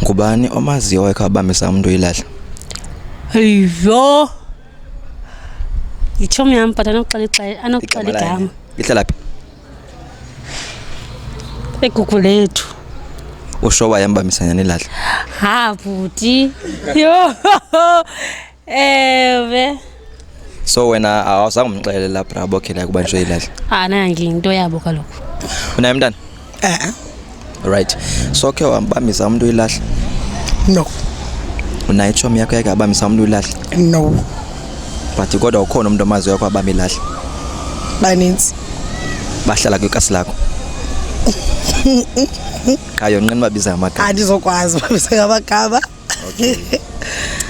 ngubani omaziyo owayekhe wabambisa umntu uyilahla yho yitshomi yam but anokuxela igama ihlala phi egugu lethu usho wayembambisanyana ilahla ha bhuti yho Ewe. So wena awuzange umxelela brabo khela ukuba nje ilahla. Ah nangi into yabo kaloku. Unaye mntana? Eh. eh. Right. So ke wambambisa umuntu ilahla? No. Unaye chom yakho yake abambisa umuntu ilahla? No. But kodwa ukhona umuntu omazi yakho abamba ilahla? Baninzi. Bahlala kwikasi lakho. Qha yonqina babiza amagama. Andizokwazi babiza amagama. Okay.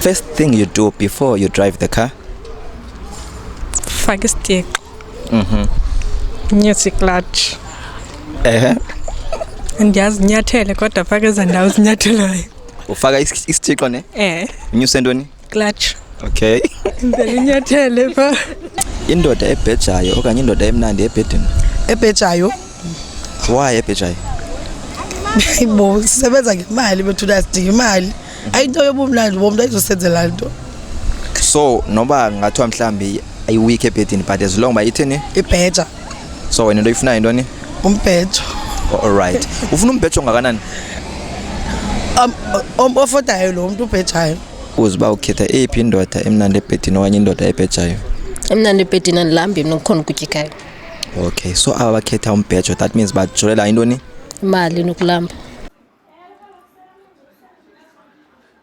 First thing you do before you drive the car? Faka isitixo. Mhm. Nyusa iclutch. Ehe. Ndiyazi nyathele kodwa faka eza ndawo zinyathelayo. Ufaka is- isithixo ne? Eh, Unyuse ntoni? clutch. Okay. Ndele inyathele pha. Indoda ebhejayo okanye indoda emnandi ebhedini. ebhejayo Why eBejayi? Bo sisebenza ngemali bethu sidinga imali. Ayinto yobumnandi bomntu ayizosenzela nto. So noba ngathiwa mhlambi ayiweek ebhedini but as long uba ithini? Ibheja. So wena into oyifunayo yintoni? Umbhejo. Oh, all right. Ufuna umbhejo ongakanani? Um, um ofodayo lo mntu ubhejayo. Uze uba ukhetha eyiphi indoda emnandi ebhedini okanye indoda ebhejayo? Emnandi ebhedini andilambhi mna kukhona ukutyikayo. Okay, so aba bakhetha umbhejo that means bajolela intoni? Imali nokulamba.